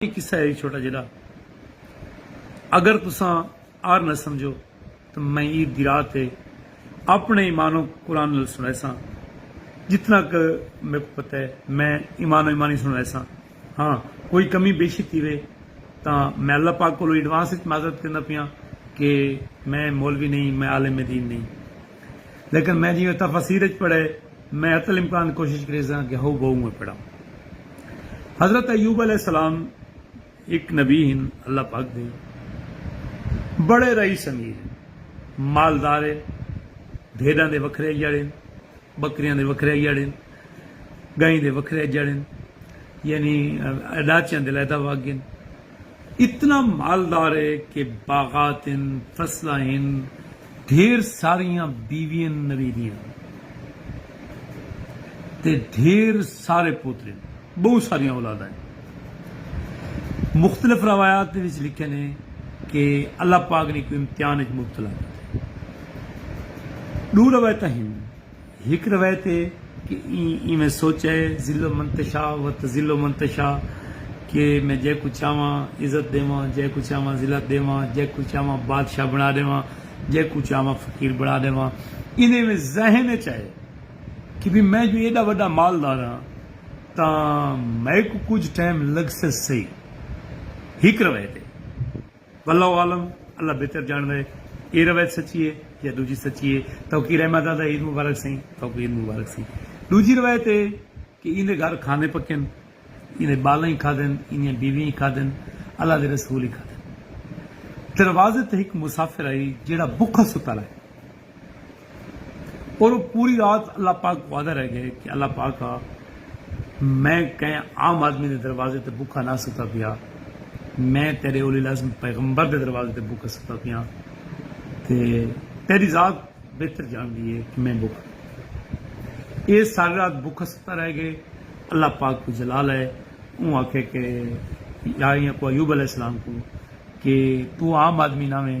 اے قصہ ہے چھوٹا جیڈا اگر تساں آر نہ سمجھو تاں میں عید دی رات تے اپنے ایمان و قرآن نال سنڑائیساں جتنا ک میکوں پتہ ہے میں ایمان و ایمانی سنڑائیساں ہاں کوئی کمی بیشی تھیوے تاں میں اللہ پاک کولوں ایڈوانس اچ معذرت کرینداں پیاں کہ میں مولوی نہیں میں عالم دین نہیں لیکن میں جیویں تفاسیر اچ پڑھے میں حتی الامکان کوشش کریساں کہ ہو بہوں میں پڑھاں۔ حضرت ایوب علیہ السلام ہک نبی ہن اللہ پاک دے بڑے رئیس امیر ہن۔ مالدار ہن۔ بھیڈاں دے وکھرے اجڑ ہن۔ بکریاں دے وکھرے اجڑ ہن۔ گائیں دے وکھرے اجڑ ہن۔ یعنی ڈاچیاں دے علیحدہ وگ ہن۔ اتنا مالدار ہے کہ باغات ہن، فصلاں ہن، ڈھیر ساریاں بیویاں نویدیاں تے ڈھیر سارے پوتر ہن۔ بہوں ساریاں اولاداں ہن۔ مختلف روایات دے وچ لکھیل ہے کہ اللہ پاک نے کوں امتحان وچ مبتلا کیتے۔ ݙو روایتاں ہن۔ ہک روایت ہے کہ ایں ایویں سوچا ہے ذل من تشاء و تذل من تشاء کہ میں جئیں کوں چاہواں عزت ݙیواں، جئیں کوں چاہواں ذلت ݙیواں، جئیں کوں چاہواں بادشاہ بݨا ݙیواں، جئیں کوں چاہواں فقیر بݨا ݙیواں۔ ایندے ایویں ذہن وچ آئے کہ بھئی میں جو ایݙا وݙا مالدار ہاں تاں میکوں کجھ ٹائم لڳسس سہی۔ ہک روایت ہے۔ واللہ اعلم اللہ بہتر جانڑدا ہے اے روایت سچی ہے یا ڈوجھی سچی ہے توکی رحمہ زادہ عید مبارک سئیں توکوں عید مبارک سئیں ڈوجھی روایت اے کہ ایندے گھر کھانے پکن ایندے بالاں ہی کھادن ایندیاں بیویاں ہی کھادن اللہ دے رسول ہی کھادن دروازے تے ہک مسافر آئی جیڑھا بکھا ستا رہے اور وہ پوری رات اللہ پاک وعدہ رہ گئے کہ اللہ پاک آ میں کہیں عام آدمی دے دروازے تے بکھا نہ ستا پیا میں تیرے اولی لازم پیغمبر دے دروازے تے بکھا ستا پیا تے تیری ذات بہتر جان دیئے کہ میں بکھ اے ساری رات بکھا ستا رہ گئے اللہ پاک کو جلال ہے اون آکھے کہ یا ایاں کو ایوب علیہ السلام کو کہ تو عام آدمی نہ میں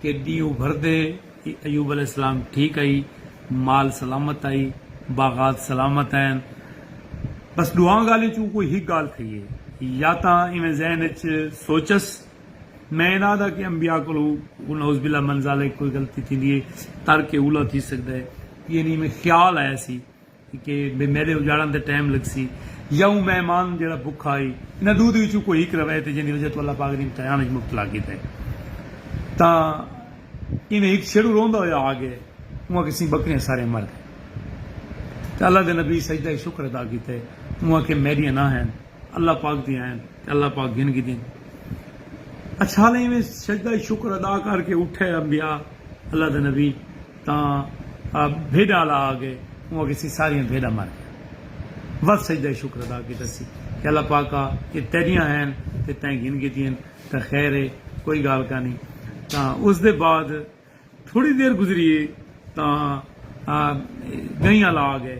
کہ ݙینہہ ابھردے ای ایوب علیہ السلام ٹھیک ہئی مال سلامت ہئی باغات سلامت ہین بس ݙوہاں ڳالھیں چوں کوئی ہک ڳالھ تھئی ہے یا تاں ایویں ذہن وچ سوچس میں انہاں دا کہ انبیاء کولوں نعوذ باللہ من ذالک کوئی غلطی تھیندی ہے ترک اولی تھی سڳدا ہے یعنی ایویں خیال آیا سی کہ بے میڈے اجاڑن تے ٹائم لگسی یا اوں مہمان جیڑھا بکھا ہئی انہاں ڈو دے وچوں کوئی ہک روے تے جیندی وجہ توں اللہ پاک دی امتحان وچ مبتلا کیتا ہئی تاں ایویں ہک چھیڑو روندا ہویا آ گئے اوں آکھے سیں بکریاں ساریاں مر گئے تے اللہ دے نبی سجدہ شکر ادا کیتا ہے اوں آکھے میڈیاں نہ ہن اللہ پاک دیاں ہن تے اللہ پاک گھن گھدین اچھالے ایویں سجدہ شکر ادا کر کے اٹھے انبیاء اللہ دے نبی تاں بھیݙاں آلا آ ڳئے اوں آکھیا سی ساریاں بھیݙاں مر ڳیاں ودھ سجدہ شکر ادا کیتا سی کہ اللہ پاکا اے تیݙیاں ہین تے تیں گھن گھدین تاں خیر اے کوئی ڳالھ کانی تاں اس دے بعد تھوڑی دیر گزری اے تاں ڳئیں آلا آ ڳئے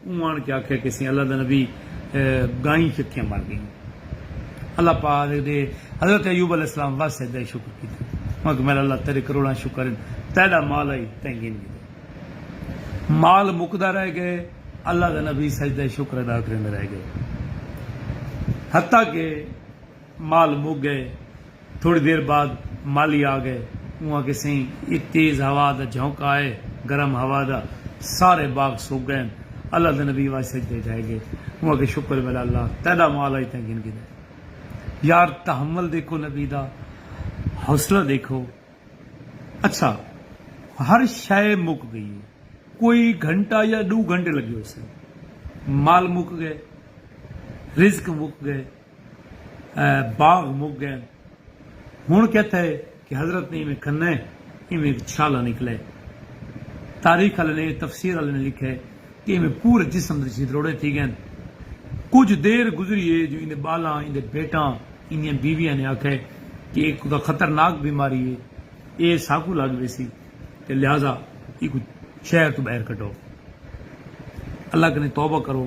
اوں آن کے آکھیا کیسے اللہ دا نبی گائیں چٹیاں بن گئیں اللہ پاک دے حضرت ایوب علیہ السلام وا سجدہ شکر کیتا اوں آکھیا میڈا اللہ تیڈے کروڑاں شکر ہن تیڈا مال آئی تیں گھن گھدے مال مکدا رہ گئے اللہ دا نبی سجدہ شکر ادا کریندے رہ گئے حتی کہ مال مک گئے تھوڑی دیر بعد مالی آ گئے۔ اوں آکھیا سئیں اے تیز ہوا دا جھونکا اے، گرم ہوا دا، سارے باغ سک گئن۔ اللہ دے نبی واج سجدے اچ ڈھے گئے۔ اوں آکھیا شکر ویلا اللہ تیڈا مال اج تئیں گھن گھدا۔ یار تحمل دیکھو نبی دا حوصلہ دیکھو۔ اچھا ہر شئے مک گئی اے۔ کوئی گھنٹہ یا ڈو گھنٹے لگے ہوسن۔ مال مک گئے۔ رزق مک گئے۔ باغ مک گئن۔ ہنڑ کتھ ہے کہ حضرت نے ایویں کھنہ ایویں اک چھالہ نکلے۔ تاریخ آلے نے، تفسیر آلے نے لکھے کہ ایویں پورے جسم دے چھید روڑے تھی گئن۔ کجھ دیر گزری ہے جو ایندے بالاں، ایندے بھیٹاں، ایندیاں بیویاں نے آکھے کہ اے کدا خطرناک بیماری ہے۔ اے ساکوں لگ ویسی تے لہذا ایکوں شہر توں بہر کڈھو۔ اللہ کنے توبہ کرو۔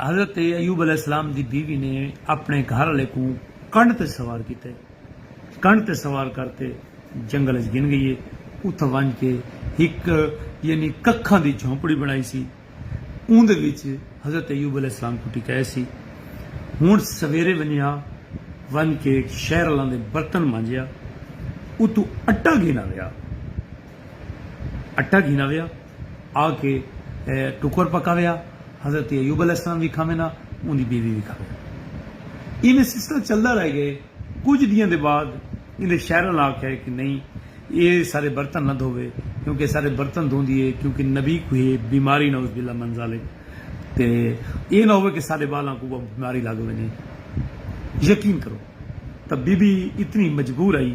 حضرت ایوب علیہ السلام دی بیوی نے اپݨے گھر آلے کوں کنڈ تے سوار کیتے۔ کنڈ تے سوار کر تے جنگل اچ گھن گئی ہے۔ اتھاں ونج کے ہک یعنی ککھاں دی جھونپڑی بݨائی سی۔ اوندے وچ حضرت ایوب علیہ السلام کوں ٹکایا سی۔ ہݨ سویرے ونجا ونج کے شہر آلاں دے برتن مانجیا۔ اتوں اٹا گھن آویا۔ اٹا گھن آویا۔ آ کے ٹکر پکاویا۔ حضرت ایوب علیہ السلام وی کھاوے نہ اوندی بیوی وی کھاوے۔ ایویں سلسلہ چلدا رہ گئے۔ کجھ ڈینہاں دے بعد ایندے شہر آلا آکھیا کہ نئیں اے سارے برتن نہ دھووے کیوں کہ سارے برتن دھوندی اے کیوں کہ نبی کوئی بیماری نعوذ باللہ من ذالک تے اے نہ ہووے کہ ساڈے بالاں کوں کوئی بیماری لگ ونجے۔ یقین کرو تاں بی بی اتنی مجبور ہئی۔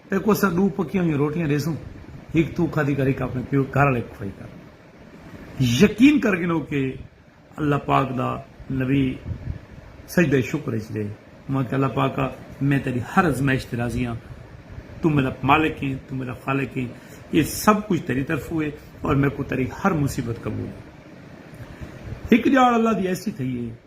تیکوں اساں ݙو پکیاں ہوئیاں روٹیاں ݙیسوں، ہک توں کھادی کر ہک آپݨے پیو گھر آلے کوں کھوائی کر۔ یقین کر گھنو کہ اللہ پاک دا نبی سجدہ شکر اچ ݙے۔ میں آکھیا اللہ پاکا میں تیݙی ہر ازمائش تے راضی ہاں، توں میݙا مالک ایں، توں میݙا خالق ایں، ایہ سب کجھ تیݙی طرفوں اے، اور میکوں تیݙی ہر مصیبت قبول اے۔ ہک ڄاڑ اللہ دی ایسی تھئی اے۔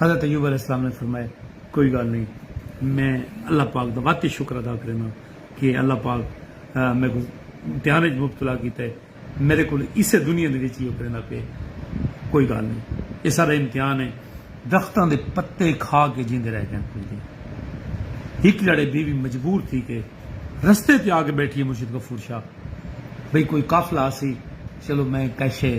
حضرت ایوب علیہ السلام نے فرمایا کوئی گال نہیں میں اللہ پاک دا واقعی شکر ادا کرینا کہ اللہ پاک میں کو امتحان وچ مبتلا کیتا ہے میرے کول اسے دنیا دے وچ یہ کرنا پے کوئی گال نہیں یہ سارا امتحان ہے درختاں دے پتے کھا کے جیندے رہ گئے کل دن ہک جڑے بی بی مجبور تھی کے رستے تے آ کے بیٹھی ہے مرشد غفور شاہ بھئی کوئی قافلہ آسی چلو میں کیشے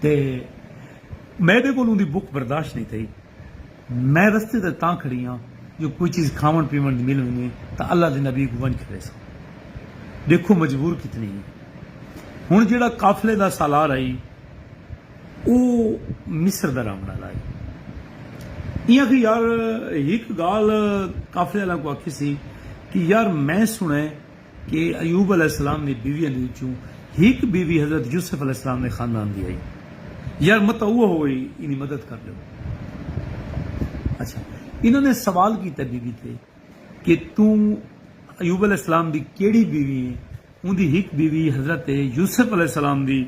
تے میڈے کول اوندی بکھ برداشت نئیں تھئی۔ میں رستے تے تاں کھڑی ہاں جو کوئی چیز کھاوݨ پیوݨ دی مل ونڄے تاں اللہ دے نبی کوں ونڄ کھڑیساں۔ ݙیکھو مجبور کتنی ہیں۔ ہݨ جیڑھا قافلے دا سالار ہئی او مصر دا رہوݨ آلا ہئی۔ ایں آکھیا یار ہک ڳالھ قافلے آلیاں کوں آکھیسی کہ یار میں سݨئے کہ ایوب علیہ السلام دی بیویاں دے وچوں ہک بیوی حضرت یوسف علیہ السلام دے خاندان دی ہئی۔ یار متاں اوہ ہوئی اینی مدد کر ݙیو۔ اچھا انہاں نے سوال کیتا بی بی تے کہ توں ایوب علیہ السلام دی کیڑھی بیوی ہیں؟ اوندی ہک بیوی حضرت یوسف علیہ السلام دی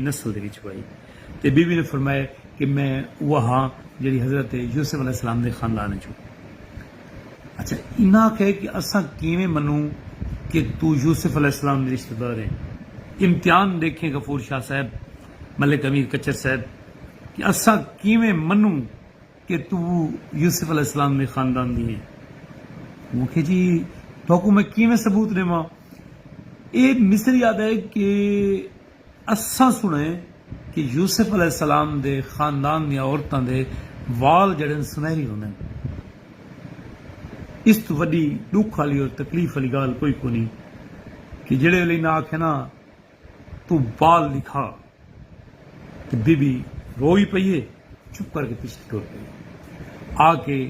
نسل دے وچوں ہئی۔ تے بی بی نے فرمایا کہ میں اوہ ہاں جیہڑی حضرت یوسف علیہ السلام دے خاندان وچوں۔ اچھا انہاں آکھیا کہ اساں کیویں منوں کہ توں یوسف علیہ السلام دی رشتہ دار ہیں۔ امتحان ڈیکھیں غفور شاہ صاحب، ملک امیر کچر صاحب کہ اساں کیویں منوں کہ توں یوسف علیہ السلام دے خاندان دی ہیں۔ اوں آکھیا جی تہاکوں میں کیویں ثبوت ڈیواں۔ ایہ مصری آہدا ہے کہ۔ اساں سݨئے کہ یوسف علیہ السلام دے خاندان دیاں عورتاں دے وال جیڑھے ہن سنہری ہوندے ہن۔ اس توں وݙی ݙکھ آلی اور تکلیف آلی ڳالھ کوئی کونھی کہ جیڑھے ویلے انہاں آکھیا نا توں وال ݙکھا تے بی بی رو وی پئی ہے چپ کر کے پیچھے ٹر پئی۔ آکے۔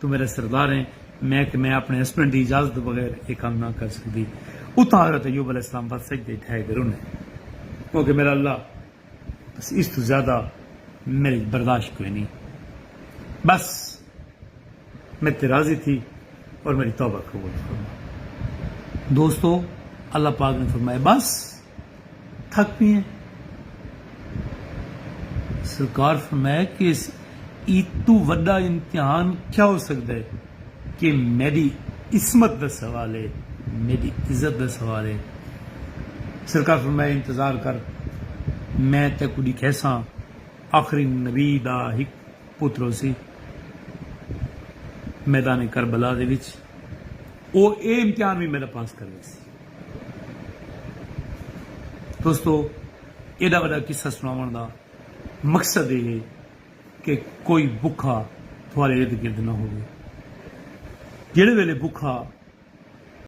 توں میݙا سردار ہیں، میں کہ میں اپݨے ہسبنڈ دی اجازت توں بغیر ایہ کم نہ کر سڳدی۔ اتھاں حضرت ایوب علیہ السلام ول سجدے اچ ڈھہے تے رنے۔ او کہ میݙا اللہ! بس اس توں زیادہ میݙے اچ برداشت کوئنی۔ بس میݙے تے راضی تھی اور میݙی توبہ قبول فرما۔ دوستو! اللہ پاک نے فرمایا، بس! تھک پی ہیں۔ سرکار فرمایا کہ اس ایتوں وڈا امتحان کیا ہو سگدے کہ میڈی عصمت دا سوال ہے، میڈی عزت دا سوال ہے۔ سرکار فرمایا انتظار کر میں تیکوں ڈکھیساں۔ آخری نبی دا ہک پتر ہوسی میدان کربلا دے وچ او اے امتحان وی میڈا پاس کر ویسی۔ دوستو ایڈا وڈا قصہ سناون دا مقصد اے ہے کہ کوئی بکھا تھوارے ارد گرد نہ ہووے جیڑھے ویلے بکھا